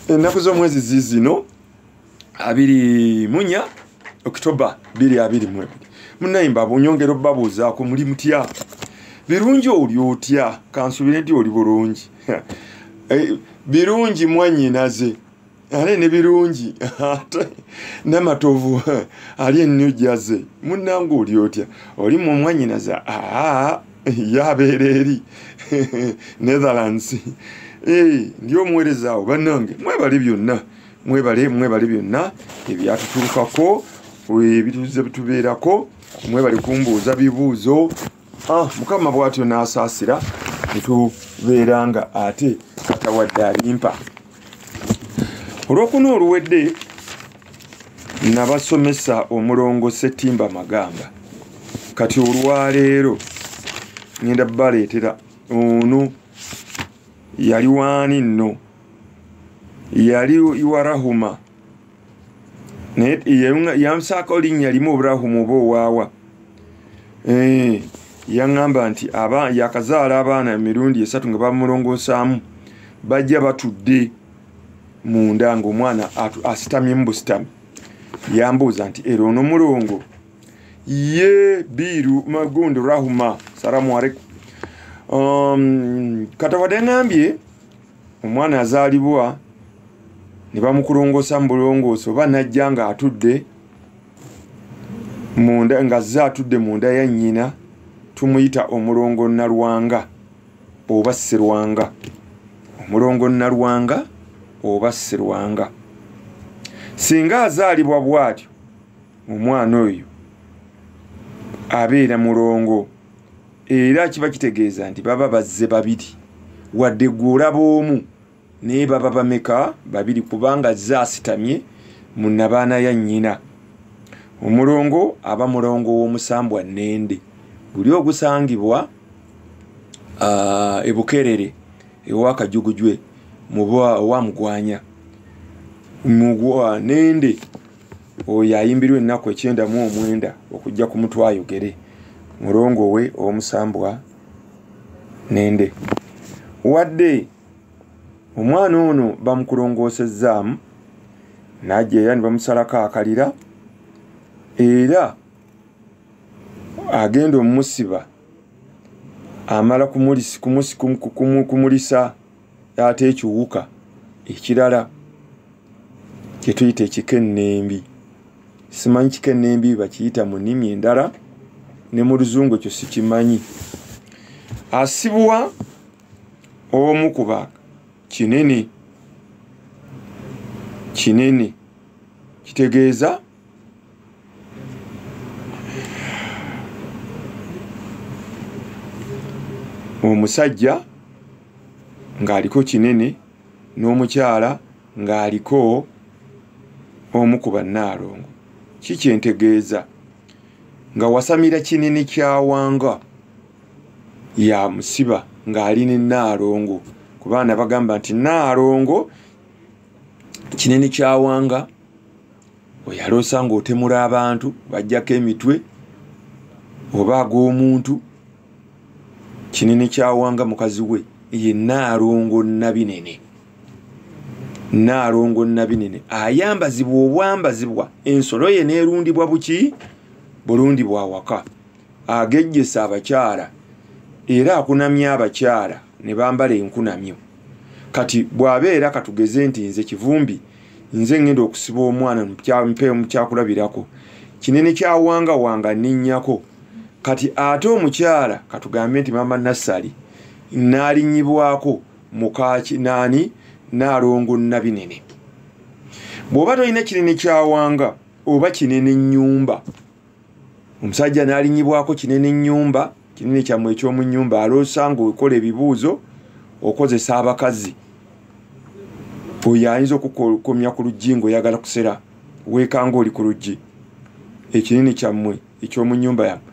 ennaku z'omwezi zizino abiri munya okitoba biri abiri mu ebiri munayimba bunyongera obabuuzaako muli mutya birungi oli otya kansubire nti oli bulungi eh, birungi mwanyinaze ale ne birungi ate namatovu ali ennyo jaze munnange oli otya oli mu mwanyinaze aa yabeera eri netherlands eh, ndi omuwerezaawo bannange mwebale byonna mwebale mwebale byonna ebyatutuukako ebituze bitubeerako mwebale kumbuuza bibuuzo ah, mukama bwatyo n'asaasira netubeera nga ate katawadde alimpa olwokuna oluwedde nabasomesa omulongo setimba magamba kati olwaleero ngenda baleetera ono yali waani nno yali iwarahuma naye yansaako linnya limu oburahumu oba owaawa eh, yaŋŋamba nti yakazaala abaana emirundi esatu nga bamulongoosaamu bajja batudde munda ngaomwana asitamyemu busitami yambuuza nti era ono mulongo ye biiru magundi rahuma salamu aleikum um, katawadeŋambye omwana azaalibwa ne bamukulongoosa mu bulongoosi oba najja ng'atudde munda ng'azze atudde mu nda ya nnyina tumuyita omulongo nalwanga oba sirwanga omulongo nalwanga oba sirwanga singa azaalibwa bw'atyo omwana oyo abeera mulongo era kiba kitegeeza nti baba bazze babiri wadde gwe olaba omu naye baba bameka babiri kubanga zze asitamye mu nabaana ya nnyina omulongo aba mulongo w'omusambwa nende guli ogusangibwa ah, ebukerere ewakajugujwe muba owamugwanya mugwa nende oyo ayimbirwa ennaku ekyenda mu omwenda okujja ku mutwe ayogere mulongo we omusambwa nende wadde omwana ono bamukulongoosezaamu najja era ne bamusalako akalira era agenda omusiba amala kumulisa ate ekiwuka ekirala kyetuyita ekikennembi simanyi kikennembi bakiyita mu nnimi endala ne mu luzungu ekyo sikimanyi asibwa omu kuba kinene kinene kitegeeza omusajja ng'aliko kinene n'omukyala ng'aliko omu ku bannaalongo ki kyentegeeza nga wasamira kinene kyawanga ya musiba ng'ali ne nnaalongo ku baana bagamba nti nnaalongo kinene kyawanga oyaloosa ngaotemula abantu bajjako emitwe oba ag'omuntu kinene kyawanga mukazi we ye naalongo nabinene naalongo nabinene ayambazibwa obwambazibwa ensolo ye neerundibwa buki bulundibwa awaka agejjesa abakyala era akunamya abakyala ne bambala enkunamyo kati bw'abeera katugeze nti nze kivumbi nze ŋŋenda okusiba omwana mpeemu kyakulabirako kinene kyawangawanga ninnyako kati ate omukyala katugambe nti maama nassali naalinnyibwako mukaaki naani naalongo nabinene bw'oba tolina kinene kyawanga oba kinene nnyumba omusajja n'alinyibwako kinene nnyumba kinene kyammwe eky'omu nnyumba aloosa ng'okola ebibuuzo okozesa abakazi oyo ayinza okukomya ku luggi ng'oyagala kusera weekanga oli ku luggi ekinene kyammwe eky'omu nnyumba yammwe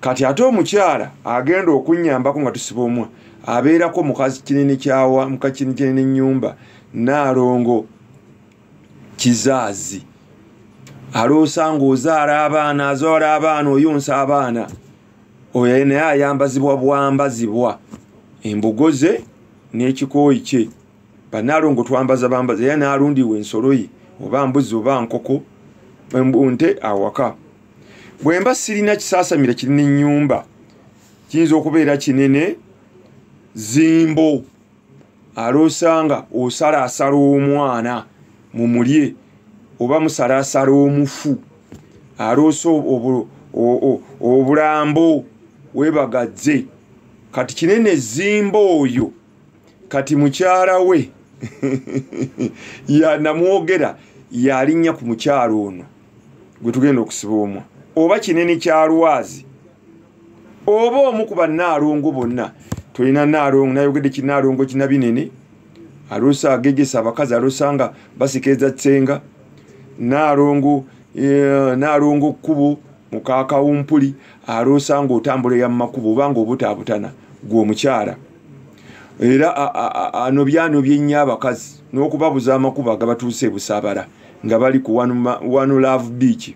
kati ate omukyala agenda okunnyambako nga tusiba omwa abeerako mukazi kinene kyawa mukakinene nnyumba naalongo kizaazi aloosa ng'ozaala abaana azoola abaana oyonsa abaana oyo naye ayambazibwa bwambazibwa embugo ze n'ekikooyi kye banaalongo twambaza bambaza era naalundiwa ensolo ye oba mbuzi oba nkoko nte awaka bwe mba sirina kisaasamira kirina ennyumba kiyinza okubeera kinene zimbo aloosanga osala asala omwana mumulye oba musala asala omufu aloosa obulambo webagazze kati kinene zimba oyo kati mukyala we yanamwogera yalinnya ku mukyalo ono gwe tugenda okusiba omwa oba kinene kyalwazi oba omu ku bannaalongo bonna tulina naalongo nayogedde kinaalongo kinabinene alusa agegesa abakazi alusa nga basikiriza senga naalongo eh, naalongo kkubo mukakawumpuli alusa nga otambula ya mumakubo obanga obutaabutana gweomukyala era anobyano byennyo abakazi n'okubabuza amakubo agabatuuse ebusaabala nga bali ku wanu love beach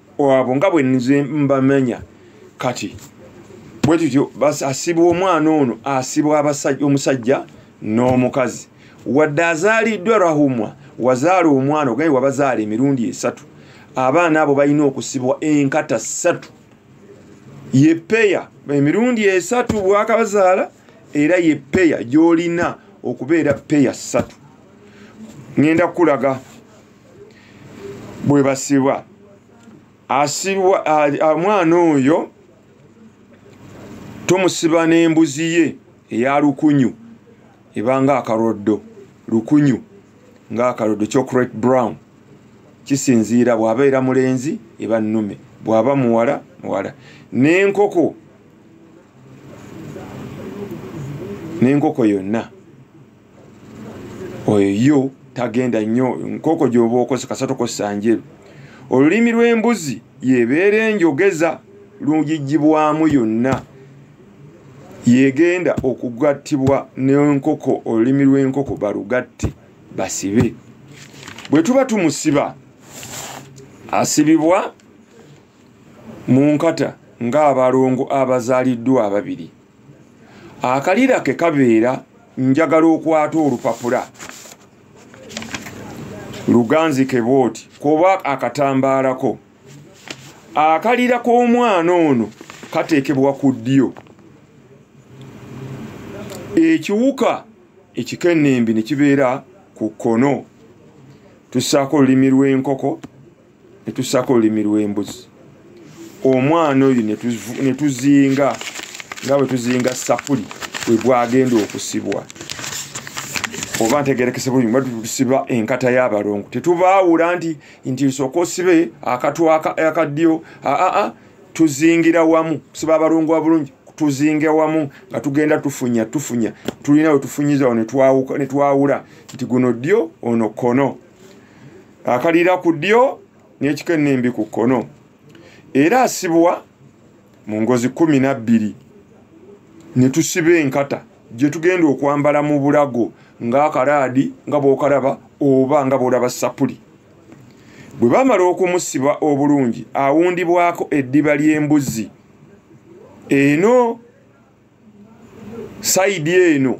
wabo nga bwe nze mbamenya kati bwe tutyo asibwa omwana ono asibwa omusajja n'omukazi wadde azaaliddwa rahumwa wazaala omwana ogaye wabazaala emirundi esatu abaana abo balina okusibwa enkata ssatu ye peya emirundi esatu bwakabazaala era ye peya gyolina okubeera peya ssatu ŋenda kukulaga bwe basibwa asibwa omwana oyo tumusiba n'embuzi ye eya lukunyu ebanga akaroddo lukunyu ng'akaroddo chocolate brown kisinziira bw'abeera mulenzi eba nnume bw'aba muwala muwala n'enkoko n'enkoko yonna oyo yo tagenda nnyo nkooko gyoba okoze kasatoko sanjeru olulimi lw'embuzi yebeera enjogeza lugijjibwamu yonna yegenda okugattibwa n'enkoko olulimi lw'enkoko balugatte basibe bwe tuba tumusiba asibibwa mu nkata ng'abalongo abazaaliddwa ababiri akalira ke kabeera njagala okwata olupapula luganzi ke bwoti kuba akatambaalako akalira k'omwana ono kateekebwa ku ddyo ekiwuka ekikennembi ne kibeera ku kkono tussaako olulimi lw'enkoko netussako olulimi lw'embuzi omwana oyo netuzinga nga bwe tuzinga sapuli we gwagenda okusibwa oba ntegerekese bulungi ba tusiba enkata y'abalongo tetubaawula nti nti nsooka osibe akatu akaddyo aa tuzingira wamu kusiba abalongo wa bulungi tuzinge wamu nga tugenda tufunya tufunya tulina wetufunyizawo netwawula nti guno ddyo ono kono akalira ku ddyo n'ekika ennembi ku kkono era asibwa mu ngozi kumi na bbiri ne tusiba enkata gye tugenda okwambala mu bulago ng'akalaadi nga bw'okalaba oba nga bw'olaba sapuli bwe bamala okumusiba obulungi awundibwako eddiba ly'embuzi eno sayidi eno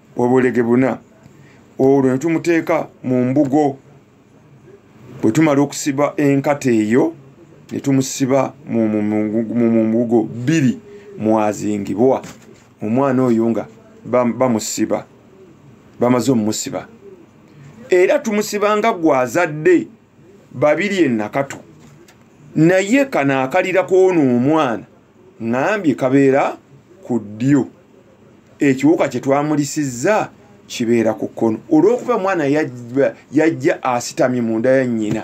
obulege buna olwo netumuteeka mu mbugo bwe tumala okusiba enkata eyo netumusiba mu mbugo bbiri mwazingibwa omwana oyo nga bamusiba bamaze omumusiba era tumusiba nga gwazadde babiri enakatu naye kano akalira kwona omwana ŋambye kabeera ku ddyo ekiwuka kye twamulisizza kibeera ku kkono olw'okuba omwana yajja asitamye mu nda ya nnyina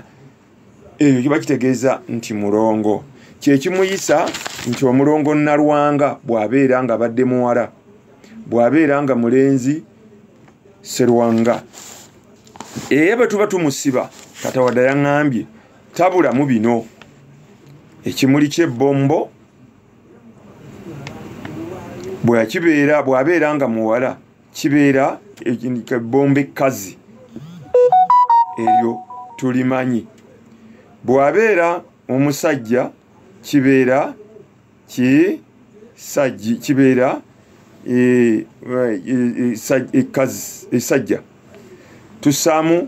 ekyo kiba kitegeeza nti mulongo kyekimuyisa nti omulongo nalwanga bw'abeera nga badde muwala bw'abeera nga mulenzi serwanga era bwe tuba tumusiba katawadde yaŋambye tabula mu bino ekimuli kyebbombo bwekibeera bwabeera nga muwala kibeera ebbombo ekkazi eryo tulimanyi bwabeera omusajja kibeera kisajji kibeera esajja e, e, e, tusaamu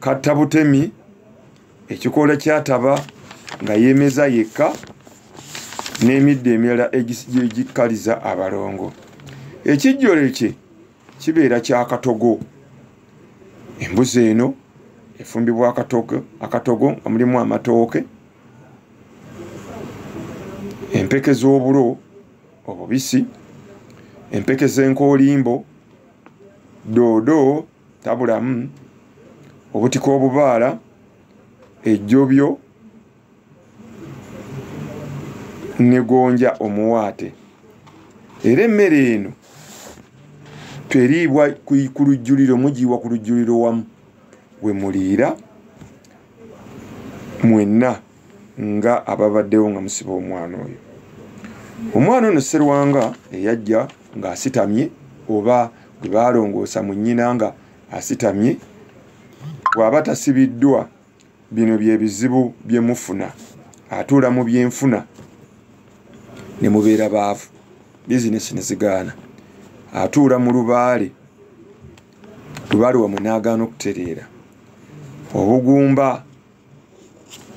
katta butemi ekikoola kyataba nga yemeza yekka n'emiddo emirala egikkaliza abalongo ekijjolo kye kibeera kyakatogo embuzi eno efumbibwa akatogo nga mulimu amatooke empeke z'obulo obubisi empeke z'enkoolimbo doodo tabulamu obutika obubaala ejjobyo negonja omuwaate era emmere eno teriibwa ku lujjuliro mugiiwa ku lujjuliro wamu we muliira mwenna nga ababaddewo nga musiba omwana oyo omwana ono serwanga eyajja ng'asitamye oba gwe baalongoosa mu nnyina nga asitamye bw'aba tasibiddwa bino bye bizibu bye mufuna atuula mu byenfuna ne mubeera baavu bizinesi ne zigaana atuula mu lubaale lubali wamwe n'agaana okutereera obugumba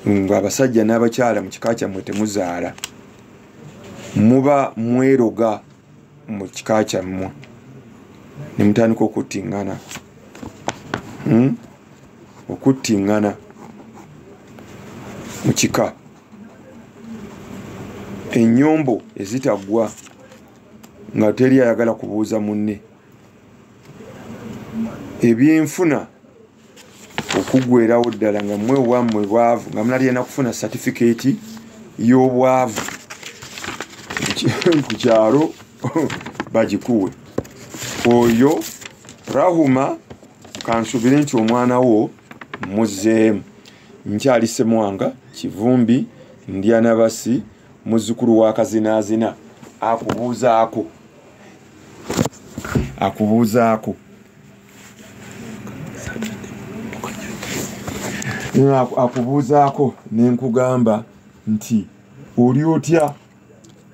ng'abasajja n'abakyala mu kika kyammwe temuzaala muba mweroga mu kika kyammwe ne mutandika okuttingana hmm? okuttingana mu kika ennyombo ezitaggwa nga teri ayagala kubuuza munne ebyenfuna okugwerawo ddala nga mwe wamwe bwavu nga munalyena kufuna satifikeeti y'obwavu ku kyalo bagikuwe oyo rahuma kansubire nti omwana wo muzeemu nkyali semwanga kivumbi ndyanabasi muzukulu wa kazinaazina akubuuzaako akubuuzaako akubuuzaako ne nkugamba nti oli otya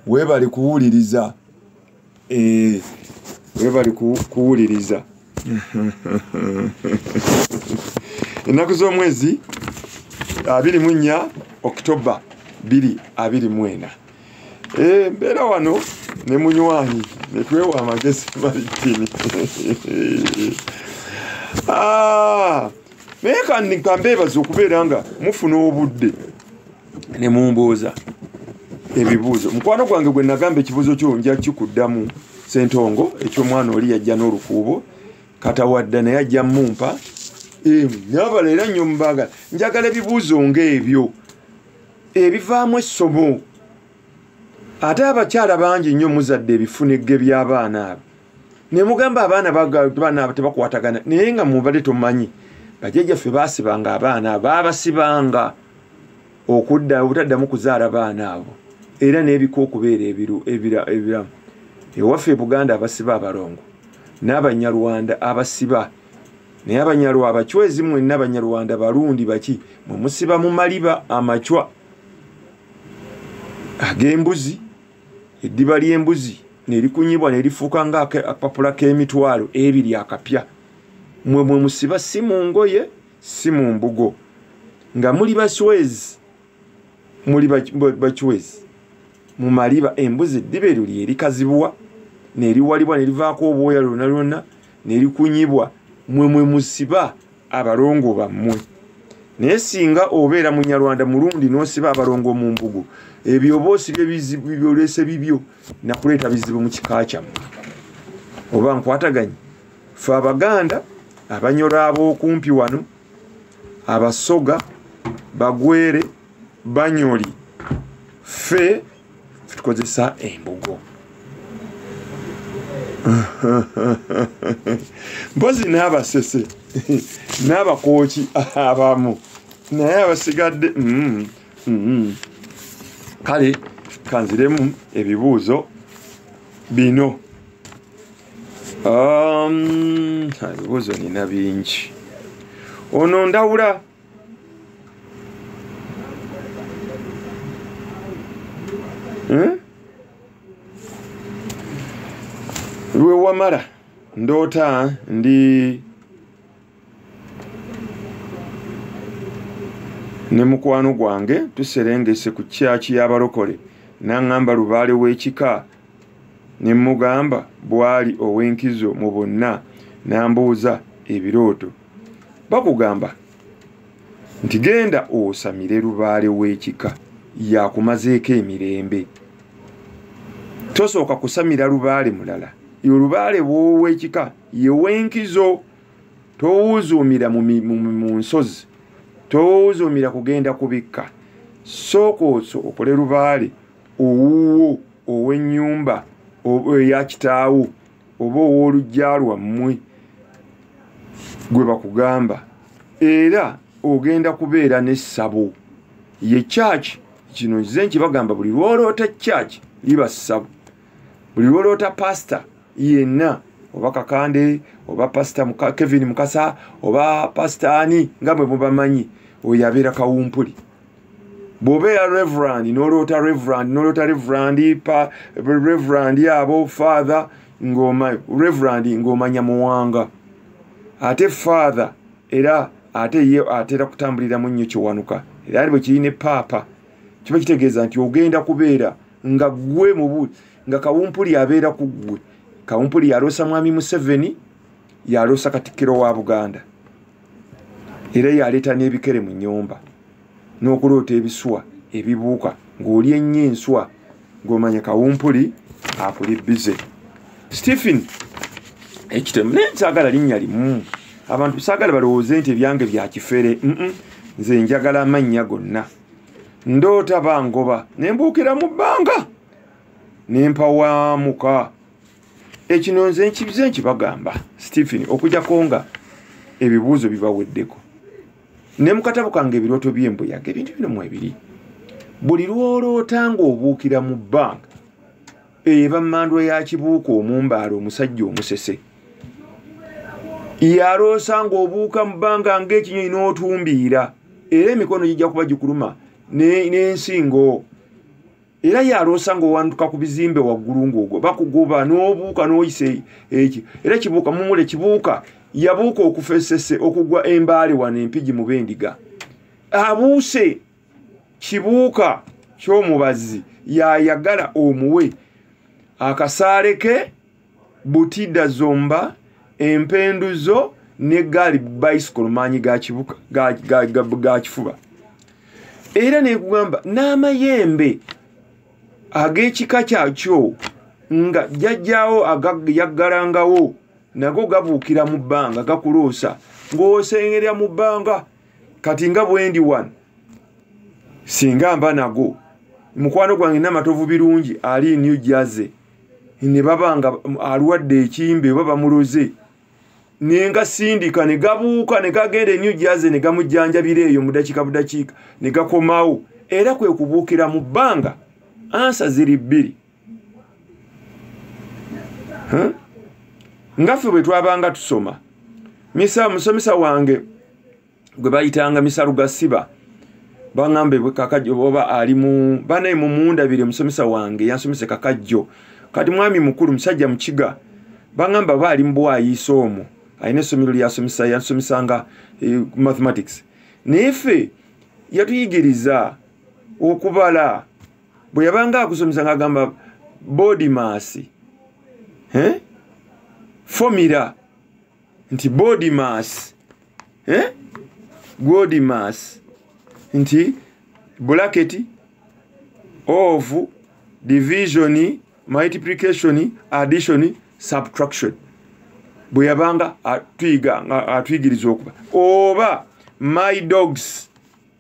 weebali kuwuliriza eh, weebali kuwuliriza ennaku z'omwezi abiri mu nnya okitoba biri abiri mwena Eh, mbeera wano ne munywanyi netwewa amagezi malikini ah, naye kankambeebaza okubeera nga mufuna obudde ne mumbooza ebibuuzo mukwano gwange gwe nagamba ekibuuzo kyo nja kikuddamu sentongo ekyomwana oli yajja n'olukuubo katawadda naye ajja mumpa eh, nyabala era nnyo mubagala njagala ebibuuzo ngaebyo ebivaamu essobo ate abakyala bangi nnyo muzadde ebifunegge by'abaana abo ne mugamba abaana baana abo tebakwatagana naye nga mubadde tomanyi bajajjaffe baasibanga abaana abo baabasibanga okudda obutaddamu kuzaala baana abo era n'ebika okubeera ebiramu ewaffe e buganda abasiba abalongo n'abanyarwanda abasiba naye abanyalwa abacwezi mwenna abanyarwanda balundi baki mwe musiba mu maliba amacwa ag'embuzi eddiba ly'embuzi nerikunyibwa nerifuuka nga akapapula k'emitwalo ebiri akapya mwe mwe musiba si mu ngoye si mu mbugo nga muli baswezi muli bakiwezi mu maliba embuzi eddiba eryo lye likazibuwa neriwalibwa nerivaako obwoya lwona lwona nerikunyibwa mwe mwe musiba abalongo bammwe naye singa obeera munyarwanda mulundi nosiba abalongo mu mbugu ebyo oba osibye bizibu byolese bibyo nakuleeta bizibu mu kika kyammwe oba nkwataganye fe abaganda abanyoro ab'okumpi wano abasoga bagwere banyoli fe tukozesa embugo mpozi n'abasese n'abakooki abamu naye abasigadde mm, mm. kale kanziremu ebibuuzo bino Um, ebibuuzo nina bingi ono ndawula hmm? lwewamala ndoota ndi ne mukwano gwange tuserengese ku kyaki y'abalokole n'aŋŋamba lubaale w'ekika ne mmugamba bw'ali ow'enkizo mu bonna n'ambuuza ebirooto bakugamba nti genda osamire lubaale w'ekika yakumazeeko emirembe tosooka kusamira lubaale mulala olubaale bw'ow'ekika yew'enkizo towuuzuumira mu nsozi towuuzuumira kugenda kubikka sooka oso okole lubaale owuwo ow'ennyumba oba eya kitaawo oba ow'olujja lwammwe gwe bakugamba era ogenda kubeera n'essabo ye church kino nze nkibagamba buli lwoloota church liba ssabo buli lwoloota pasita yenna oba kakande oba pasita kevin mukasa oba pasita ani nga bwe mubamanyi oyo abeera kawumpuli bw'oba eya reverand n'oloota reverand n'oloota reverand pa reverand abo father ng'oma reverand ng'omanya muwanga ate father era ate ye atera kutambuliramu nnyo kiwanuka era ali bwe kiri ne paapa kiba kitegeeza nti ogenda kubeera nga ggwe mubu nga kawumpuli abeera ku ggwe kawumpuli yaloosa mwami museveni yaloosa katikkiro wa buganda era yaleeta n'ebikere mu nyumba n'okuloota ebiswa ebibuuka ng'oli ennyo enswa ng'omanya kawumpuli akuli bize stephen ekitemu naye nkyagala linnya limu abantu saagala balowooze nti ebyange bya kifere nze njagala amannya gonna ndoota bangoba ne mbuukira mu bbanga ne mpawaamuka ekino nze nkibize nkibagamba stephen okujako nga ebibuuzo bibaweddeko ne mukatabo kange ebirooto byembuyaga ebintu bino mwebiri buli lwoloota ng'obuukira mu banka eba mmandwa ya kibuuka omumbaala omusajja omusese yaloosa ng'obuuka mu bbanga ng'ekinyonyi n'otumbiira era emikono gijja kuba gikuluma n'ensingo ne era yaloosa ngaowanduka ku bizimbe waggulu ngaogwa bakugoba n'obuuka n'oyisa e, ekyo era kibuuka mumule kibuuka yabuuka okufa esese okugwa embaale wano empigi mu bendiga abuuse kibuuka ky'omubazi yayagala omuwe akasaale ke butida zomba empendu zo ne gaali bicycle maanyi gakibuka gakifuba era nekugamba n'amayembe ag'ekika kyakyo nga jajjawo yaggalangawo nago gabuukira mu bbanga gakuloosa ng'osengerya mu bbanga kati nga bwendi wano singa mba nago mukwano gwange namatovu birungi ali new jersey ne baba nga alwadde ekimbe oba bamuloze naye nga sindika ne gabuuka ne gagenda enyo jaze ne gamujjanjabira eyo mu dakiika budakiika ne gakomawo era kwe kubuukira mu bbanga ansa ziri bbiri nga ffe bwe twabanga tusoma misa musomesa wange gwe bayitanga misalu gasiba baŋambe kakajjo oba ali mu banaye mumundabire musomesa wange yansomese kakajjo kati mwami mukulu musajja mukiga baŋamba oba ali mubwayiisa omwo alina essomero lyasomesa yansomisanga eh, mathematics naye ffe yatuyigiriza okubala bwe yabanga akusomesa ngaagamba bodimaasi eh? fomira nti body mass eh? body mass nti blacket of division multiplication addition subtraction bwe yabanga atuyiga atuyigiriza okuba oba my dogs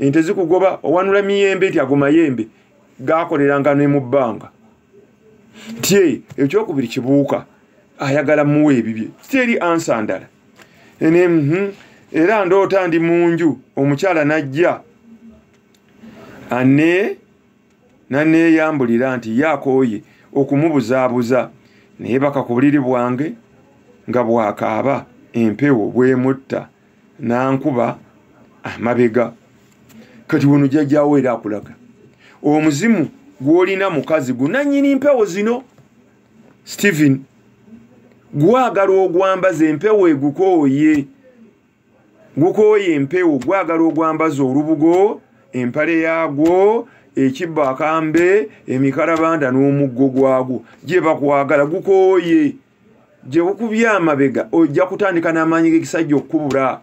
ente zikugoba owanula miyembe nti ago mayembe gakoleranga ne mu bbanga nti eyo ekyokubiri kibuuka ayagala muwa ebibye siteri ansa ndala ene mhm, era ndoota ndi mu nju omukyala najja ane naneeyambulira nti ye akooye okumubuzaabuza naye baka ku buliri bwange nga bwakaaba empewo bwemutta nankuba amabega kati wano jajjawo era akulaga omuzimu gwolina mukazi gunanyini mpewo zino stephen gwagala ogwambaza empewo egukooye gukooye empewo gwagala ogwambaza olubugo empale yagwo ekibbo akambe emikalabanda n'omuggo gwagwo gye bakwagala gukooye gyewukubye amabega ojja kutandika n'amaanyi g'ekisajja okukubula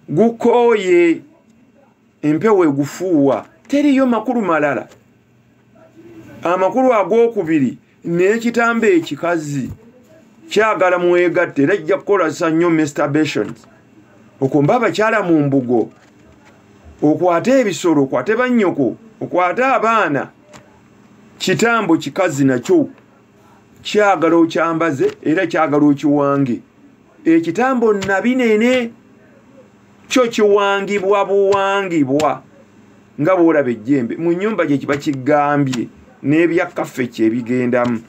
gukooye empewo egufuuwa teriyo makulu malala amakulu ag'okubiri n'ekitambo ekikazi kyagala mwegatte era kijja kukolasa nnyo masturbations okumba abakyala mu mbugo okwate ebisolo okwate bannyoko okwate abaana kitambo kikazi nakyo kyagala okyambaze era kyagala okiwange ekitambo nabi nene kyo kiwangibwa buwangibwa nga bwolaba ejjembe mu nyumba gye kiba kigambye n'ebyakkaffe kyebigendamu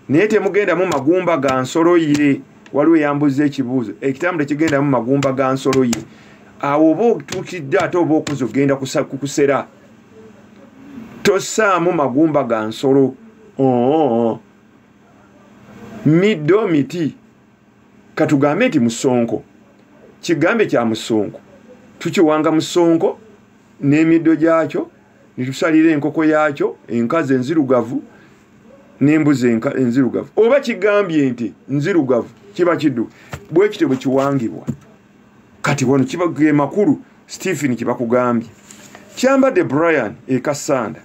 naye temugendamu magumba ga nsolo ye waliwo eyambuza ekibuuzo ekitambo tekigendamu magumba ga nsolo ye awo oba otuukidde ate oba okuza ogenda kukusera tosaamu magumba ga nsolo oo middo miti katugambe nti musonko kigambe kya musonko tukiwanga musonko n'emiddo gyakyo netusalira enkoko yakyo enkazi enzirugavu nembuzi enzirugavu oba kigambye nti nzirugavu kiba kiddu bwekityo bwekiwangibwa kati wano ge makulu stephen kyebakugambye kyambadde brian ekasanda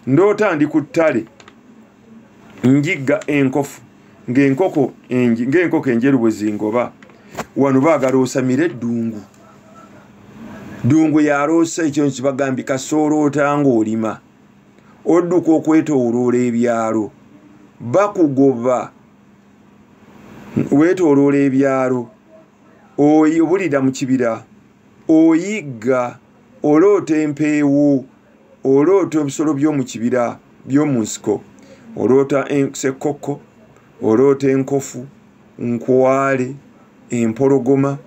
ndoota ndi ku ttale njigga enkofu ng'enkoko ng'enkoko enjeru bwe zingoba wano baagala osamire eddungu ddungu yaloosa ekyo nkibagambye kasooloota ng'olima odduka okwetooloola ebyalo bakugoba weetooloola ebyalo oyi obulira mu kibira oyigga oloota empeewo oloota ebisolo by'omu kibira by'omu nsiko oloota sekkokko oloota enkofu nkwale empologoma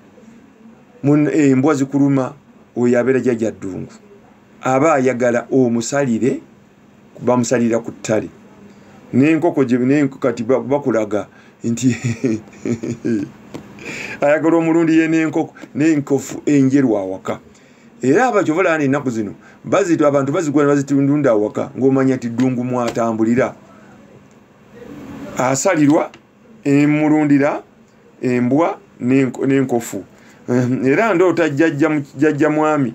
embwa zikuluma oyo abeera jajja ddungu aba ayagala omusalire bamusalira ku ttale n'enkoko kati bakulaga nti ayagala omulundi ye n'enkoko n'enkofu enjeru awaka era abakyova olaba na ennaku zino bazitwa abantu bazigula bazitundunda awaka ng'omanya ti ddungu mwatambulira asalirwa emulundira embwa n'enkofu ehm, era ndoota jjajja mwami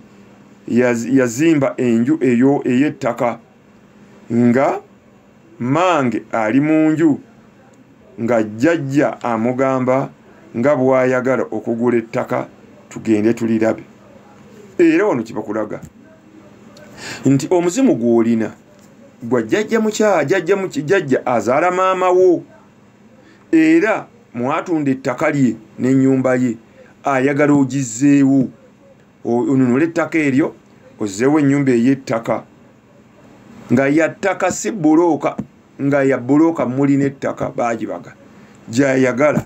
yazimba enju eyo ey'ettaka nga mange ali mu nju nga jjajja amugamba nga bw'ayagala okugula ettaka tugende tulirabe era wano kibakulaga nti omuzimu gw'olina gwa jjajja mukyala jjajja jjajja azaala maama wo era mwatunda ettaka lye n'ennyumba ye ayagala ogizzeewo onunula ettaka eryo ozzeewo ennyumba ey'ettaka nga yattaka si bulooka nga ya bulooka muli n'ettaka baagibaga gyayagala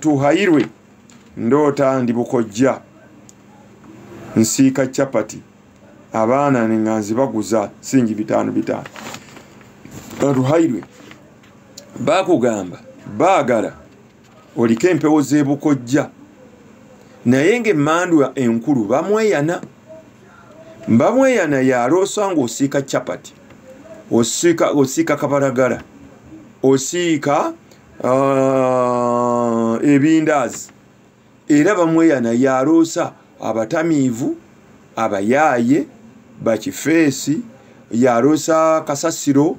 tuhayirwe ndoota ndi bukojja nsiika chapati abaana nga nzibaguza singi bitaano bitaano tuhayirwe bakugamba baagala oliko empewo z'ebukojja naye ngaemmandwa enkulu bamweyana bamweyana yaloosa ngaosiika chapati osiika kabalagala osiika ah, ebindaazi era bamweyana yaloosa abatamiivu abayaaye bakifeesi yaloosa kasasiro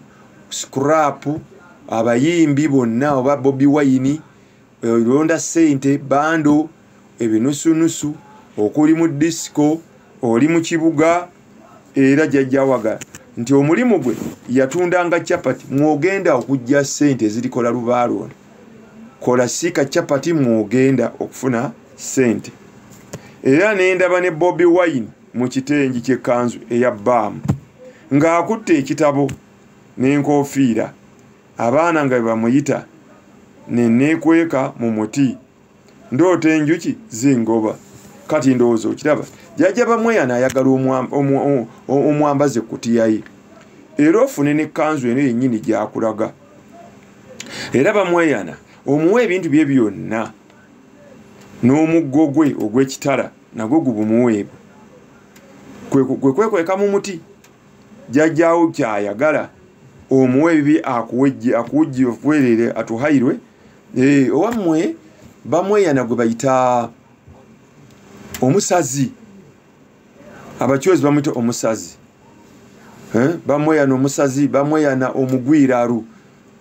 scrap abayimbi bonna oba bobi wayini olonda sente bando ebinusunusu okuli mu disiko oli mu kibuga era jajjawaga nti omulimu gwe yatundanga chapati mwogenda okujja sente ezirikola lubaalo ono kola siika chapati mwogenda okufuna sente era nendaba ne bobi wine mu kitengi kyekanzu eya baamu ng'akutte ekitabo n'enkofiira abaana nga bebamuyita neneekweka mu muti ndoota enjuki zingoba kati ndowooza okiraba jajja bamweyana ayagala omwambaze kutiyaye era ofune ne kanzu eno yennyini gyakulaga era bamweyana omuwa ebintu bye byonna n'omuggo gwe ogw'ekitala nagwo gubumuweebwe kwe kwekweka mu muti jajjawo kyayagala omuwa ebibi akuwejje akuwujje okuwereere atuhairwe eh, owammwe bamweyana gwe bayita omusazi abacwezi bamwita omusazi eh, bamweyana omusazi bamweyana omugwiraru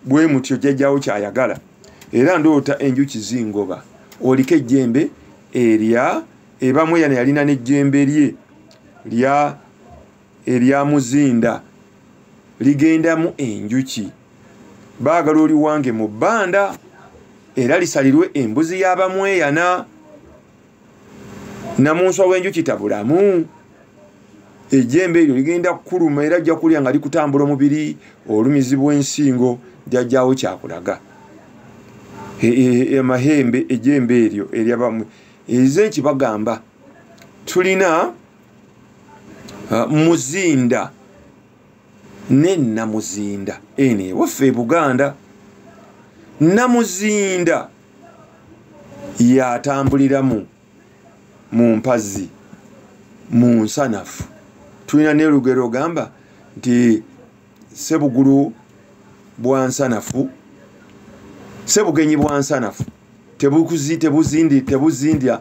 bwe mutyo jajjawo kyayagala era ndoota enjuki zingoba oliko ejjembe erya ebamweyana yalina nejjembe lye lya erya muzinda ligendamu enjuki baagala oliwange mu bbanda era lisalirwe embuzi y'abamweyana namunswa w'enjuki tabulamu ejjembe eryo ligenda kukuluma era ajja kulya nga likutambula omubiri olumizi bw'ensingo jajjawo kyakulaga amahembe e, e, e, ejjembe eryo eryabamwe ezenki bagamba tulina ah, muzinda ne namuzinda eno ewaffe e buganda namuzinda yatambuliramu mu mpazi mu nsanafu tulina nelugero ogamba nti sebugulu bwa nsanafu sebugenyi bwa nsanafu tebuzindya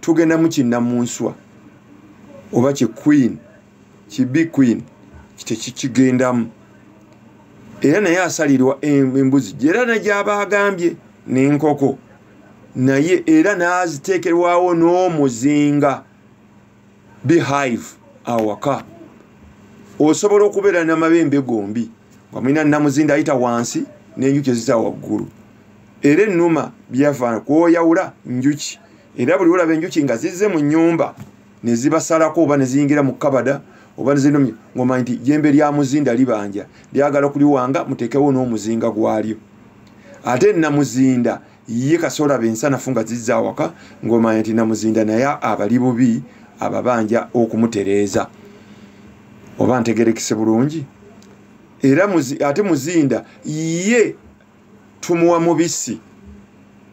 tugenda mu kinnamunswa oba ki queen kibi queen kitekikigendamu era naye asalirwa embuzi era negyaba agambye nenkoko naye era nazitekerwawo n'omuzinga behive awaka osobola okubeera namabembe gombi nga mulina namuzinda ayita wansi nenjuki ezita waggulu era ennuma byava kwoyawula njuki era buli olaba enjuki nga zizze mu nyumba nezibasalako oba neziyingira mu kabada oba nezinumya ngomanyi nti jembe lya muzinda libanja lyagala kuliwanga mutekewo n'omuzinga gwalyo ate namuzinda ye kasola bensanafu nga zizza awaka ngomanyi nti namuzinda naye abali bubi ababanja okumutereeza oba ntegerekese bulungi era ate muzinda ye tumuwa mubisi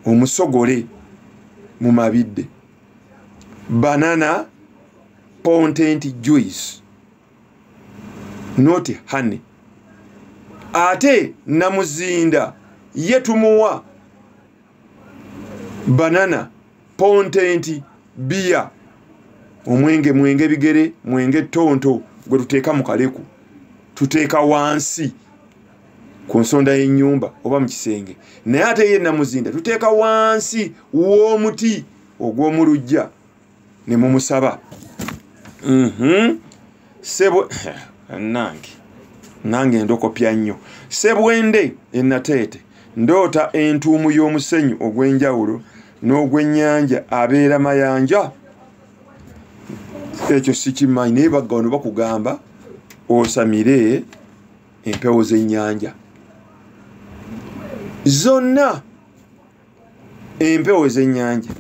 omusogole mu mabidde banana pontent juice not honey ate namuzinda ye tumuwa banana pontent biya omwenge mwenge bigere mwenge tonto gwe tuteeka mu kaleku tuteeka wansi ku nsonda y'ennyumba oba mu kisenge naye ate ye namuzinda tuteeka wansi w'omuti ogw'omu lujja ne mumusaba mhm. sebo nange nange ndokopya nnyo sebwende enateete ndoota entuumu y'omusenyu ogw'enjawulo n'ogw'ennyanja abeera mayanja ekyo sikimanyi naye bagga wano bakugamba osamire empewo z'ennyanja zonna empewo z'ennyanja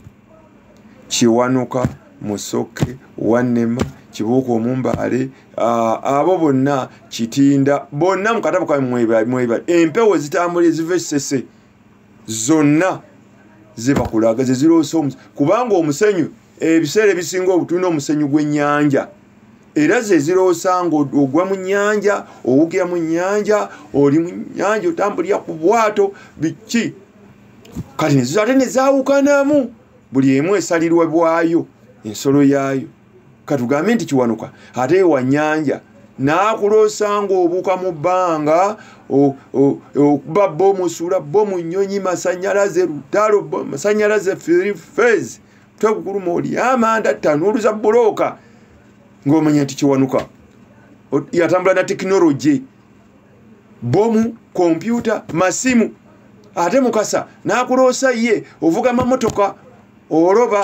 kiwanuka musoke wannema kibuuka omumbaale abo bonna kitinda bonna mukatabo kamwebal empewo zitambula eziva esese e zonna zebakulaga zeziroosa omusenyu kubanga omusenyu ebiseera ebisinga obutulina omusenyu gw'ennyanja era zeziroosa nga ogwa mu nnyanja owugira mu nnyanja oli mu nnyanja otambulira ku bwato biki kati nezizo ate nezawukanamu buli emu esalirwa bwayo ensolo yaayo katugambe nti kiwanuka ate wa nyanja n'akuloosa ng'obuuka mu bbanga okuba bo musula bo mu nnyonyi masanyalaze lutalo masanyalaze fez twekukuluma oli amanda tanuuluza bulooka ng'omanya nti kiwanuka yatambula na tekinologi bomu kompyuta masimu ate mukasa n'akuloosa ye ovuga mamotoka oloba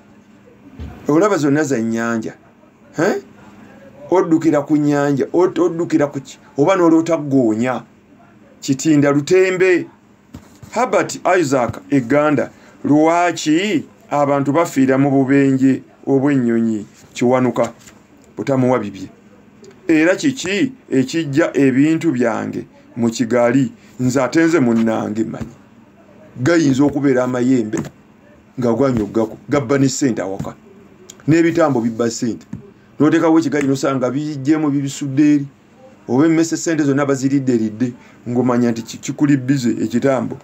olaba zonna za nyanja oddukira ku nyanja oddukira kuki oba noloota goonya kitinda lutembe herbert isaac eganda lwaki abantu bafiira mu bubenje obw'ennyonyi kiwanuka butamuwa bibye era kiki ekijja ebintu byange mu kigali nze atenze munnange manyi gayinza okubeera amayembe nga gwanya okugako gabba ne sente awaka n'ebitambo bibba sente notekawo ekigaji nosanga bijjemu bibisudde eri oba emmese sente zonna baziridde ridde ngomanya nti kikuli bize ekitambo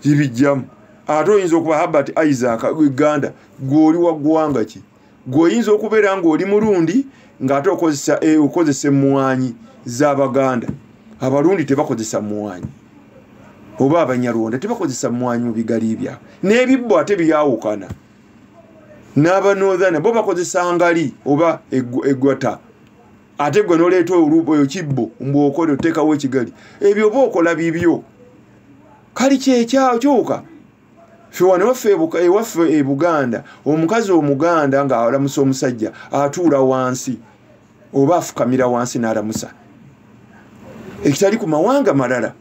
kibijjamu ate oyinza okuba habert isaac eganda gweoli wa ggwanga ki gwe oyinza okubeera ng'oli mulundi ng'ate okozesa eh, okozesa emmwanyi z'abaganda abalundi tebakozesa mmwanyi oba abanyarwanda tebakozesa mmwanyi mu bigali byabwe n'ebibbo ate byawukana n'abanothana bo bakozesa ngali oba egwata ate gwe noleeta oluboyo kibbo mbwokola oteekawo ekigali ebyo oba okola bibyo kali kyekyawo kyoka fe wano waffe ewaffe e buganda omukazi omuganda nga alamusa omusajja atuula wansi oba afukamira wansi n'alamusa ekitali ku mawanga malala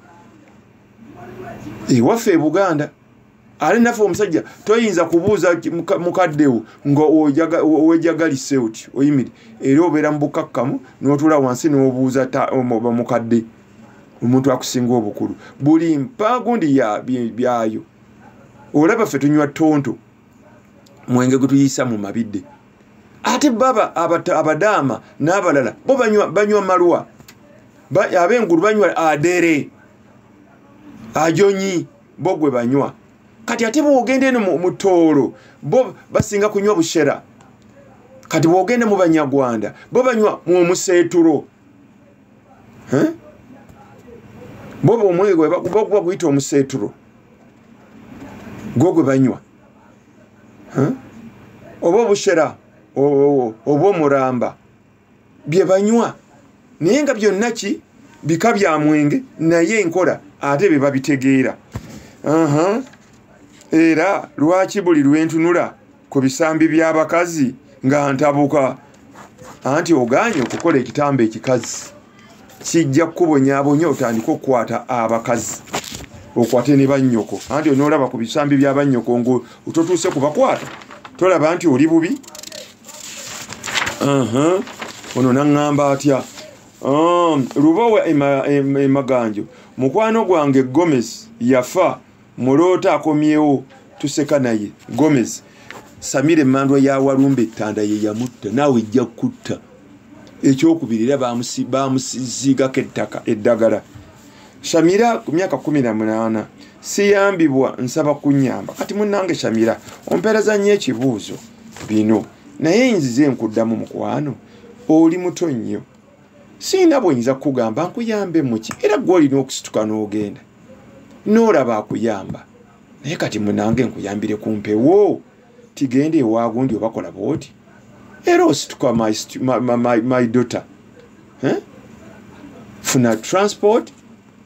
ewaffe e buganda ate naffe omusajja toyinza kubuuza mukaddewo nga wejagalise oti oyimiri era obeera mu bukakkamu n'otuula wansi n'obuuza mukadde omuntu akusinga obukulu buli mpaagundi byayo olaba ffe tunywa tonto mwenge gwe tuyisa mu mabidde ate baba abadaama n'abalala bo banywa malwa ab'engulu banywa adere ajonyi bo gwe banywa kati ate bwogenda eno mu toolo bo basinga kunywa bushera kati bwogenda mu banyarwanda bo banywa mu omuseeturo boba omwenge gwebakuba guyita omuseeturo gwo gwe banywa oba obushera oba omuramba bye banywa naye nga byonna ki bika bya mwenge naye enkola ate bye babitegeera era lwaki buli lwentunula ku bisambi by'abakazi nga ntabuka anti ogaanye okukola ekitambo ekikazi kijja kukubonyabonya otandika okukwata abakazi okwate ne bannyoko anti onoolaba ku bisambi bya bannyoko nga ototuuse ku bakwata tolaba nti oli bubi ono naŋŋamba atya um, lubowa emaganjo mukwano gwange gomes yafa muloota akomyewo tuseka naye gomez samira emandwa ya walumba ettanda ye yamutta naawe ejja kutta ekyokubiri era bamusiziigako ettaka eddagala shamira ku myaka kumi na munaana siyambibwa nsaba kunyamba kati munange shamira ompeereza nnyo ekibuuzo bino naye nzize nkuddamu mukwano oli muto nnyo sirina bwenyinza kukugamba nkuyambe muki era gwe olina okusituka n'ogenda n'olaba akuyamba naye kati munange nkuyambire ku mpewo tigenda ewagundi obakola bwoti era osituka my, my, my, my, my daughter eh? funa transport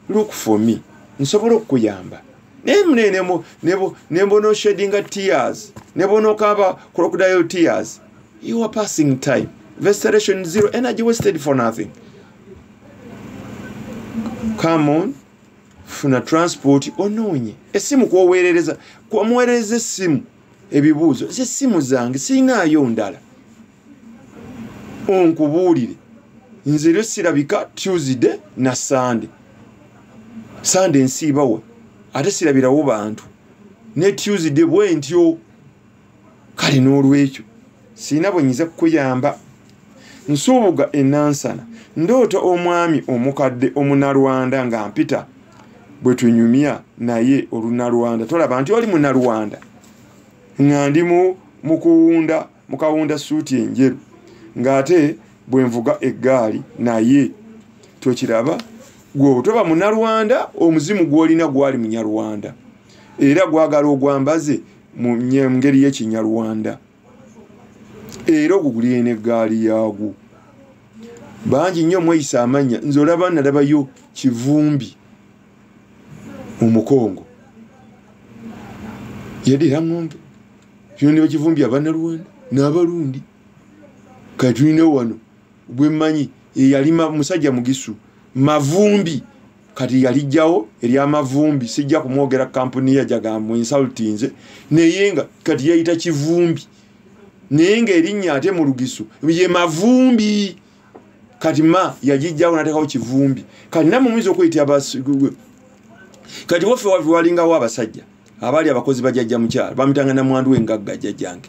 look for me nsobola okukuyamba naye mune nebonoshedinga tears nebonokaaba crocodile tears you are passing time veseration zero energy wasted for nothing come on funa transport onoonye essimu kwoweerereza kwamuweerereza essimu ebibuuzo zessimu zange sirinaayo ndala onkubuulire nze lyo sirabika tuesday na sande sande nsiibawe ate sirabirawo bantu ne tuesday bwentyo kale n'olwekyo sirina bwe nyiza kukuyamba nsuubuga enansana ndoota omwami omukadde omunalwanda nga mpita bwe tunyumya naye olunalwanda tolaba nti oli munalwanda nga ndi mukuwunda mukawunda suuti enjeru ng'ate bwe nvuga eggaali naye tokiraba gwe toba munalwanda omuzimu gwolina gwali munyarwanda era gwagala ogwambaze mu ngeri y'ekinyarwanda era ogugulire n'eggaali yaagwo bangi nnyo mweyisa amannya nze olaba nalabayo kivumbi mu mukongo yadira ngombe kino ne bakivumbi abanalwanda n'abalundi katulina wano bwemmanyi eyalima musajja mugisu mavumbi kati yalijjawo eryamavumbi sijja kumwogera kampuni yajagambu insultinze naye nga kati yayita kivumbi naye nga erinnya ate mu lugisu ye mavumbi kati ma yagijjawo natekawo kivumbi kati namwe muyinza okweyitira kati waffe walingawo abasajja abaali abakozi bajajja mukyalo bamitanga namwandu wengagga jajjange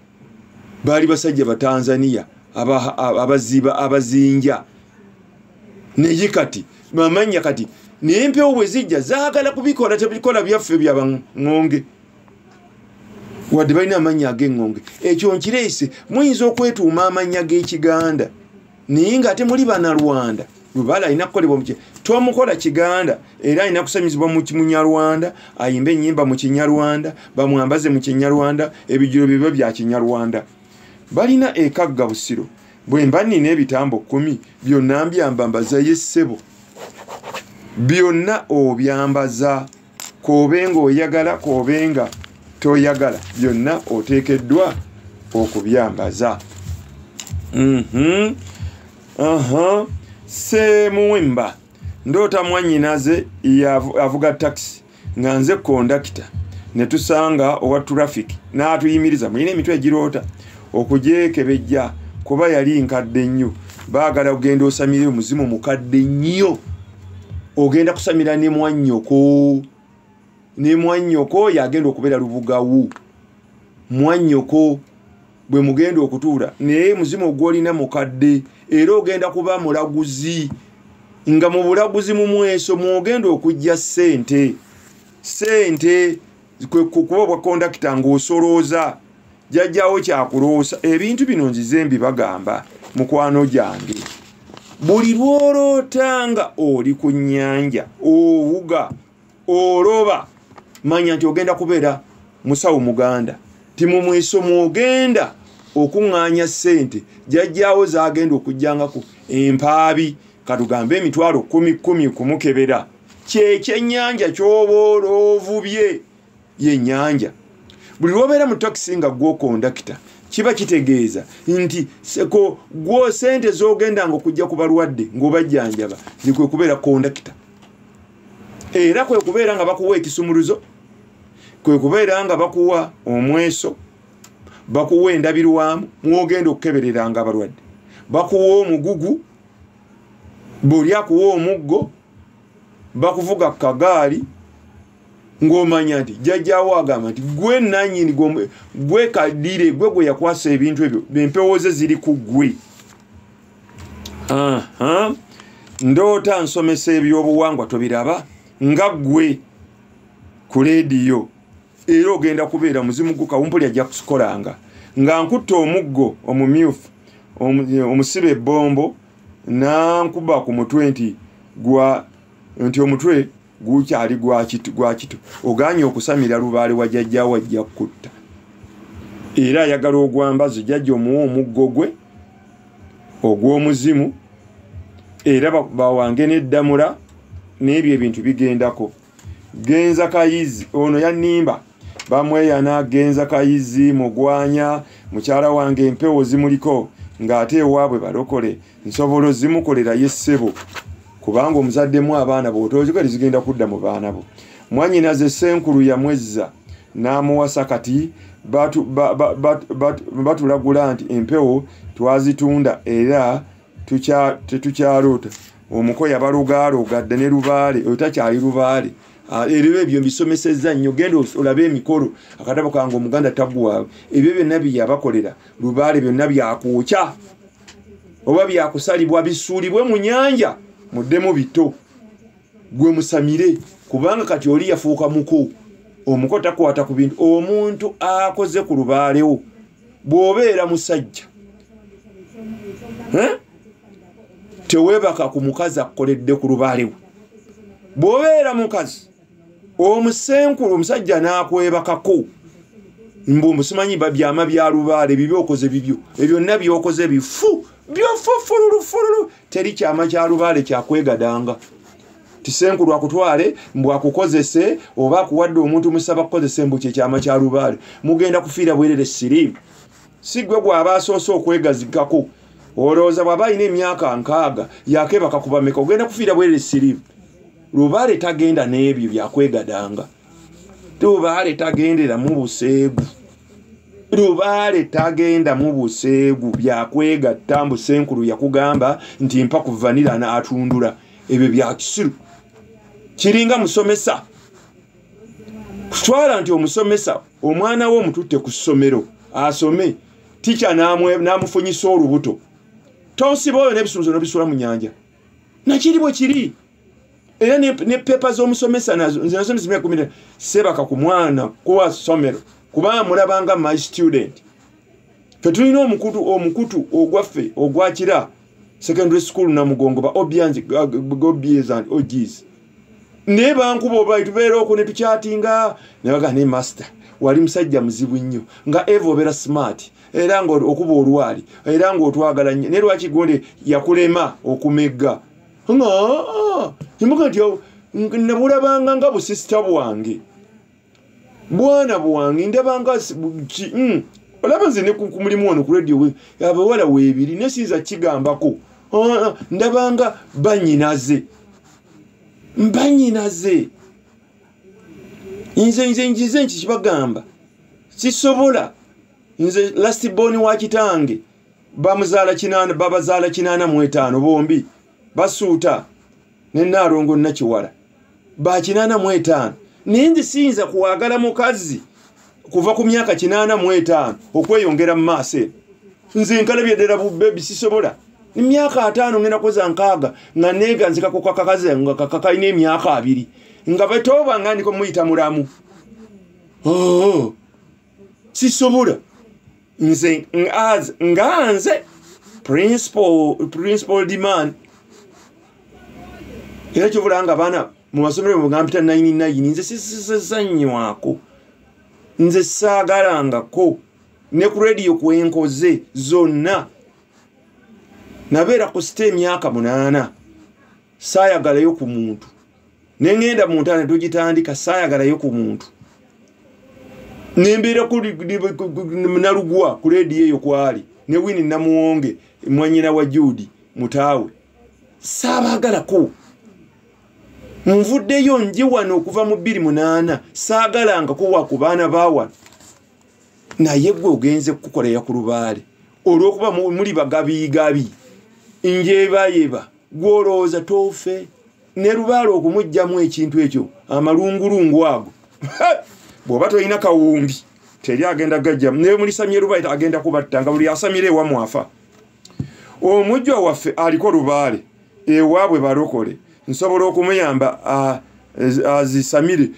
baali basajja batanzania abaziba abazinja naye kati mamanya kati naye empewo bwe zijja zaagala kubikola tebikola byaffe byabaŋonge wadde balina amannya ag'eŋŋonge ekyo nkireese muyinza okwetuuma amannya g'ekiganda naye nga ate muli banalwanda lubala alina kukolebwa mu tomukola kiganda era alina kusanyizibwa mu munyarwanda ayimba enyimba mu kinyarwanda bamwambaze mu kinyarwanda ebijiro bibyo bya kinyarwanda balina ekagga busiro bwe mba nina ebitambo kkumi byonna mbyamba mbazayo essebo byonna obyambaza koobe nga oyagala koobe nga toyagala byonna oteekeddwa okubyambaza mhm. semuwemba ndoota mwanyinaze avuga takisi nga nze kondakita ne tusanga owa traffic n'atuyimiriza mulina emitwe egiroota okugyekebejja kuba yali nkadde nnyo baagala kugenda osamire omuzimu mukadde nnyo ogenda kusamira ne mwannyoko ne mwannyoko oyo agenda okubeera lubugawu mwannyoko bwe mugenda okutuula naye muzimu ogwolina mukadde era ogenda kuba mulaguzi nga mu bulaguzi mu mweso mwogenda okujja ssente ssente kuba obwa kondakita ng'osolooza jajjawo kyakuloosa ebintu bino nzize mbibagamba mukwano gyange buli lwoloota nga oli ku nyanja owuga oloba manya nti ogenda kubeera musawo muganda timumwesomu ogenda okuŋŋaanya ssente jajjaawo zagenda okujjangako empaabi katugambe emitwalo kumi kumi kumukebera kyekyennyanja kyoba oloovubye yenyanja buli lwobeera mu takisi nga gwokondakita kiba kitegeeza nti seko gwo sente zogendanga okujja ku balwadde ngaobajjanjaba ni kwekubeera kondakita era kwekubeera nga bakuwa ekisumuluzo kwekubeera nga bakuwa omweso bakuwa endabirwamu mwogenda okukebereranga abalwadde bakuwa omugugu buli akuwa omuggo bakuvuga kagaali ng'omanya nti jjajjaawo agamba nti gwe nanyini gwe kadire gwe gwe yakwasa ebintu ebyo empewo ze ziri ku gwe ndoota nsomesa ebyobuwangwa tobiraba nga gwe ku leediyo era ogenda kubeera muzimu gukawumpuli ajja kusikolanga nga nkutte omuggo omumyufu omusiba ebbombo nankuba ku mutwe nti gwa nti omutwe gukyali gwakitu gwakitu oganye okusamira lubaale wa jajja wajja kutta era ayagala ogwambazo jajja omuwa omuggo gwe ogw'omuzimu era bawange n'eddamula n'ebyo ebintu bigendako genza kayizi ono yanimba bamweyana genza kayizi mugwanya mukyala wange empewo zimuliko ng'ate ewaabwe balokole nsobola ozimukolera ye ssebo kubanga omuzaddemu abaana bw'otoozikali zigenda kudda mu baana bo mwanyina ze senkulu yamwezza n'amuwasa kati batulagula nti empewo twazitunda era tetukyaloota omuko yabalugaaloogadde ne lubaale oyo takyali lubaale Ah, ebyo ebyo mbisomesezza nnyo genda olabe emikolo akatabo kange omuganda taguwaawe ebyo byonna byeyabakolera lubaale byonna byakuukya oba byakusalibwa bisuulibwe mu nyanja muddemu bito gwe musamire kubanga kati oli yafuuka muko omuko takwata ku bintu omuntu akoze ku lubaalewo bw'obeera musajja teweebaka ku mukazi akukoledde ku lubaale we bw'obeera mukazi omusenkulu omusajja n'akwebakako mbu musimanyi babyama bya lubaale bibi okoze bibyo ebyonna byokoze bifu byofufululufululu teri kyama kya lubaale kyakwegadanga tisenkulu akutwale mbu akukozese oba akuwadde omuntu musaba kukozese mbu kyekyama kya lubaale mugenda kufiira bwerere siriimu si gwe gwaba asoose okwegazikako olowooza bwaba alina emyaka nkaaga yakebaka kubameka ogenda kufiira bwerere siriimu lubaale tagenda n'ebyo byakwegadanga lubaale tagendera mu buseegu lubaale tagenda mu buseegu byakwegatta mbu senkulu yakugamba nti mpa kuvanira naatundula ebyo byakisiru kiringa musomesa kutwala nti omusomesa omwana we omututte ku ssomero asome tikya n'amufunyisa olubuto tonsiba oyo n'ebisunzo nobisula mu nyanja nakiri bwe kiri era ne pepa z'omusomesa nazo nze nazo nizimyakumira sebaka ku mwana kuwa ssomero kuba amulabanga my student fe tulina omukutu omukutu ogwaffe ogwakira secondary school namugongo ba obians gobies and ogis naye bankuba olwali tubeera okwo ne tukyatinga ne bagaa naye master wali musajja muzibu nnyo nga eva obeera smart era nga okuba olwali era nga otwagala nnyo naye lwaki gonde yakulema okumegga nga ah, ah, nabulabanga nga busisita bwange bwana bwange ndabanga mm, olaba nze nekumulimu ono ku radio we abawala webiri naye siyinza kigambako ah, ah, ndabanga banyinaze mbanyinaze nze nze njize nki kibagamba sisobola nze lastiboni wa kitange bamuzaala kinaana babazaala kinaana mu etaano bombi basuuta ne naalongo nakiwala ba kinaana mu etaano naye nze siyinza kuwagala mukazi kuva ku myaka kinaana mu etaano okweyongera mu maaso eno nze nkalabye ddala bubebi sisobola emyaka ataano ngenda koza nkaaga nga neeganzika ku kakakazi nga kakakalina emyaka abiri nga batoba nga ndiko muyita mulamu oh, sisobola nze as nga nze principal principal demand era kyovula nga abaana mu masomero mugampita nayini nayini nze sisizanywako nze saagalangako ne ku rediyo kwenkoze zonna nabeera ku sita emyaka munaana saayagalayo ku muntu ne ŋŋenda mu ntaana tugitandika saayagalayo ku muntu ne mbeera nalugwa ku leediyo eyo kwali ne wini namuwonge mwanyina wa juudi mutaawe saabaagalako nvuddeyo nje wano okuva mu bbiri munaana saagalangako wa ku baana baawano naye gwe ogenze kukukolera ku lubaale olwokuba muli bagabiigabi njebayeba gwolowooza toofe ne lubaala okumugyamu ekintu ekyo amalungulungu ago bw'oba tolina kawumbi teri agenda gajjamu naye mulisamye lubaale agenda kubatta nga buli asamira ewamwafa omujjwa waffe aliko lubaale ewaabwe balokole nsobola okumuyamba azisamire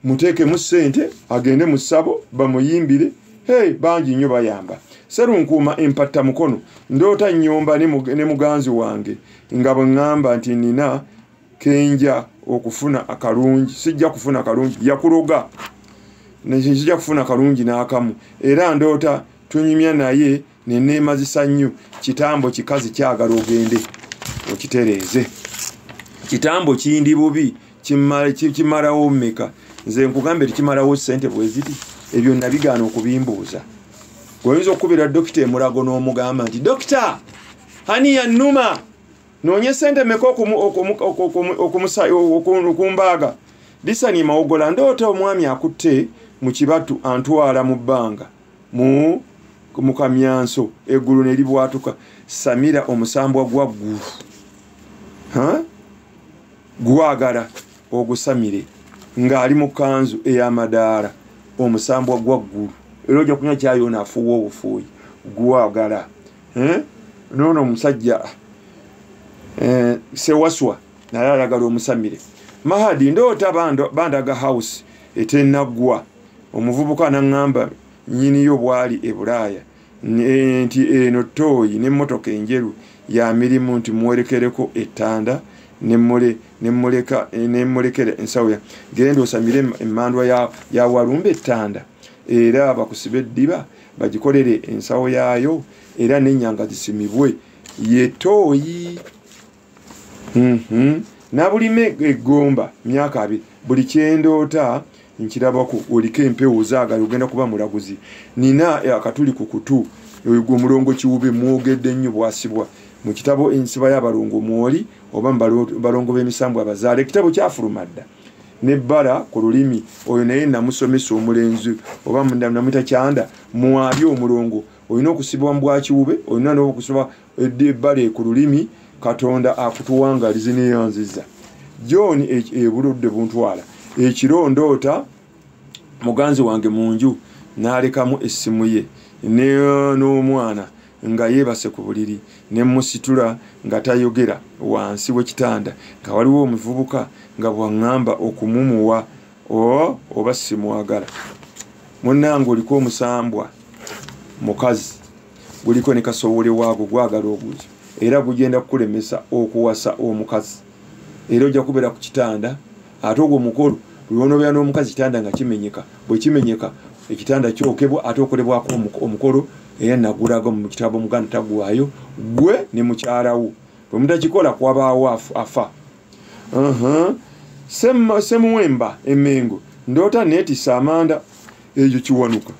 muteekemu ssente agende mu ssabo bamuyimbire hey bangi nnyo bayamba serunkuuma empatta mukono ndoota nnyomba ne muganzi wange nga bwe ŋŋamba nti nina kenja okufuna akalungi sijja kufuna akalungi yakuloga sijja kufuna akalungi n'akamu era ndoota tunyumya naye neneemazisa nnyo kitambo kikazi kyagala ogende okitereeze kitambo kindi bubi kimalawo meka nze nkugambe tikimalawo sente bweziri ebyo nabigaana okubimbuuza oyinza okukubira dokita emulago n'omugamba nti dokita hani yanuma noonye sente meka okumbaaga disani mawogola ndoota omwami akutte mu kibatu antwala mu bbanga mu mu kamyanso eggulu ne libwatuka samira omusambwa gwa ggulu gwagala ogusamire ng'ali mu kanzu ey'amadaala omusambwa gwa ggulu era ojja kunya kyayoona afuuwa obufuuyi gwagala noono omusajja eh, sewaswa naye ayagala omusamire mahadi ndoota bandaga house etenaggwa omuvubuka anaŋŋamba nnyiniyo bwali e bulaaya e, nti eno tooyi n'emmotoka enjeru ya mirimu nti muwerekereko ettanda nemulekera ensawo ya genda osamire emmandwa ya walumba ettanda era bakusiba eddiba bagikolere ensawo yaayo era nenyanga zisimibwe ye tooyi mhm. nabulima egomba myaka abi buli kyendoota nkirabako oliko empewo ozaagala ogenda kuba mulaguzi nina eh, akatuli ku kutu ogwo omulongo kiwube mwogedde nnyo bwasibwa mu kitabo ensiba y'abalongo mwoli oba mubalongo b'emisambwa abazaala ekitabo kyafuluma dda nebbala ku lulimi oyo naye namusomesa omulenzi oba namwita kyanda mwali omulongo olina okusibwa mubwakiwube olina nokusiba ebbale ku lulimi katonda akutuwangalizi neyanziza john e, ebuludde buntwala ekiro ndoota muganzi wange mu nju nalekamu essimu ye n'omwana nga yeebase ku buliri ne musitula nga tayogera wansi w'ekitanda nga waliwo omuvubuka nga bwaŋŋamba okumumuwa oba simwagala munnange oliko omusambwa mukazi guliko ne kasowole waago gwagala obuuzi era gugenda kukulemesa okuwasa omukazi era ojja kubeera ku kitanda ate ogwo omukolo lwonobeera n'omukazi kitanda nga kimenyeka bwe kimenyeka ekitanda kyokebwa ate okolebwako omukolo era nagulaga mu kitabo omuganda tagwayo gwe ne mukyalawo bwe mutakikola kwabaawo afa semuwemba emengo ndoota neetisa amanda egyo kiwanuka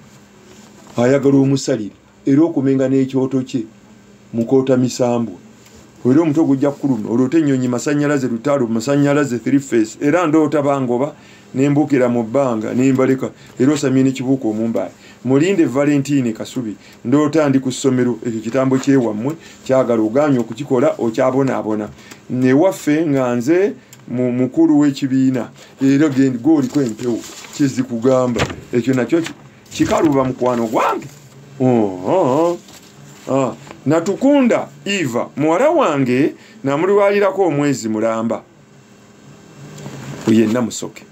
ayagala omusalire era okumenga n'ekyoto kye mukoota misambwa era omutwe gujja kukuluma oloota ennyonyi masanyalaze lutaalo masanyalaze threeface era ndoota bangoba nembukira mu bbanga nembaleka era osamye nekibuuka omumbaale mulinde valentine kasubi ndoota ndi ku ssomero ekyo kitambo kyewammwe kyagala oganya okukikola okyabonaabona newaffe nga nze mukulu w'ekibiina era goliko empewo kizikugamba ekyo nakyo kikaluba mukwano gwange oh, ah. natukunda eva muwala wange namulwalirako omwezi mulamba yenna musoke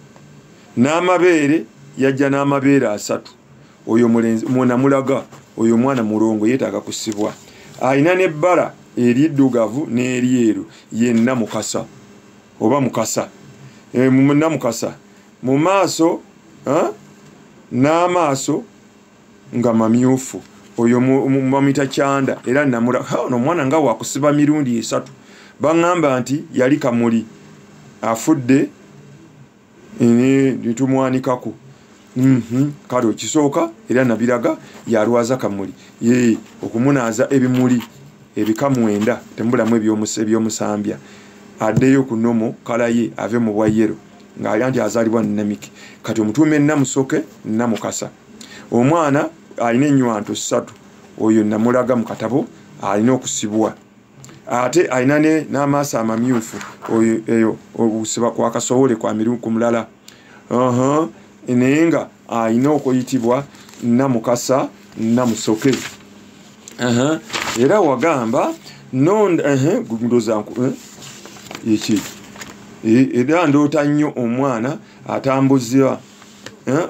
n'amabeere yajja n'amabeere asatu oyo namulaga oyo omwana mulongo yetaaga kusibwa alina nebbala eriddugavu n'eryeru yenna mukasa oba mukasa eh, munna mukasa mu maaso n'amaaso nga mamyufu oyo bamuyita kyanda era namura ono omwana nga wakusiba mirundi esatu baŋŋamba nti yali kamuli afudde netumwanikako mhm, kale okisooka era nabiraga yalwaza kamuli okumunaaza ebimuli ebika mwenda temubulamu ebyomusambya addeyo ku nomo kalaye ave mu bwa yero ng'alya nti azaalibwa namiki kati omutuuma enamusoke namukasa omwana alina enywanto ssatu oyo namulaga mu katabo alina okusibwa ate alina n'amaaso amamyufu oyo eyo okusiba kwakasowole kwamiriku mulala naye nga alina okuyitibwa namukasa namusoke era wagamba eki e, era ndoota nnyo omwana atambuzibwa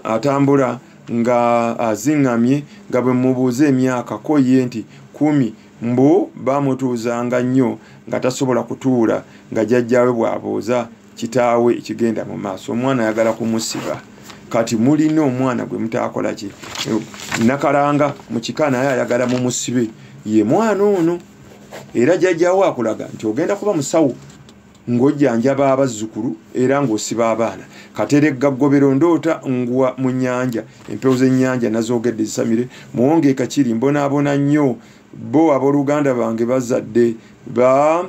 atambula nga aziŋŋamye nga bwe mubuuza emyaka ko ye nti kumi mbu bamutuuzanga nnyo nga tasobola kutuula nga jajjawe bw'abuuza kitaawe ekigenda mu maaso omwana ayagala kumusiba kati mulina omwana gwe mutaakola ki nakalanga mu kika naye ayagala mu musibe ye mwana ono era jajjawo akulaga nti ogenda kuba musawo ng'ojjanjaba abazzukulu era ng'osiba abaana kateregga ggobero ndoota ngwa mu nnyanja empewo z'ennyanja nazoogedde zisamire muwonge kakiri mbonaabona nnyo bo abooluganda bange bazadde ba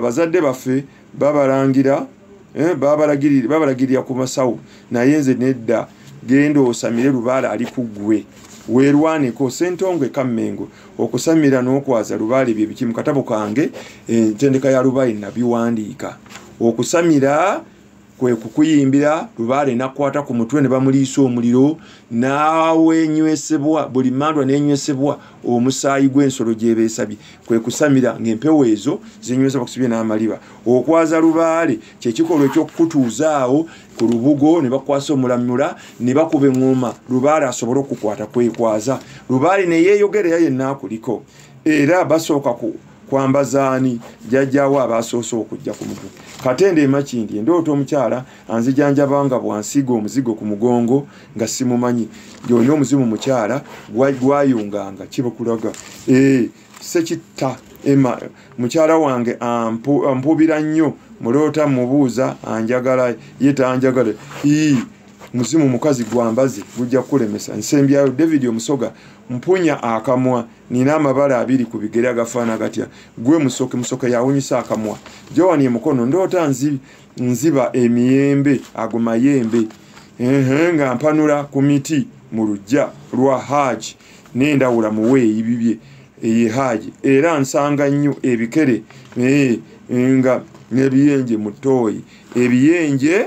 bazadde baffe babalangira eh, babalagirira ku masawo naye nze nedda genda osamire lubaale ali ku ggwe werwaneko sentongwe kammengo okusamira n'okwaza lubaale bye biki mu katabo kange entendeka eh, ya lubaale nabiwandiika okusamira kwe kukuyimbira lubaale nakwata ku mutwe ne bamuliisa omuliro n'awenywesebwa buli mandwa n'enywesebwa omusaayi gw'ensolo gyebeesabye kwe kusamira ng'empewo ezo zinywesebwa kusibye n'amaliba okwaza lubaale kye kikolwa eky'okukutuuzaawo ku lubugo ne bakwasa omulamula ne bakuba eŋŋoma lubaale asobole okukwata kwekwaza lubaale ne yeeyogera era yenna akuliko era basooka ku kwambaza ani jajjawo abaasoose okujja ku mutwe katende emakindi endoota omukyala anzijanjaba nga bwansiiga omuzigo ku mugongo nga simumanyi yolina omuzimu mukyala gwayunganga kibakulaga eh, sekitta ema mukyala wange ampubira nnyo muloota mubuuza anjagala ye tanjagala ii muzimu mukazi gwambazi gujja kukulemesa nsembyayo david omusoga mpunya akamwa nina amabala abiri ku bigere agafaana gatya gwe musoke musoke yawunyisa akamwa jowani emukono ndoota nzi, nziba emiyembe ago mayembe ehe nga mpanula ku miti mu lujja lwa haaji nendawula muweeyi bibye eye haaji era nsanga nnyo ebikere nga nebiyenje mu tooyi ebiyenje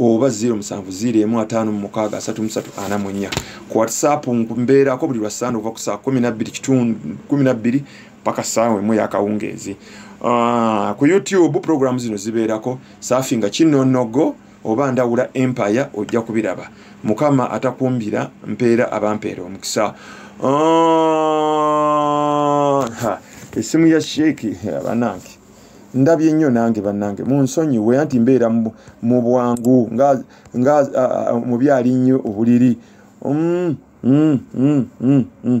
oba 070553 ku whatsapp mbeerako buli lwasande okuva ku saa 12 paka saawa emu yakawungeezi ah, ku youtube programu zino zibeerako saafi nga kinonogo oba ndawula empire ojja kubiraba mukama atakumbira mpeera abampeera omukisa ah, esimu ya sheeki abanange ndabye nnyo nange bannange munsonyiwe anti mbeera mu bwangu nga mubyali nnyo obuliri mm, mm, mm,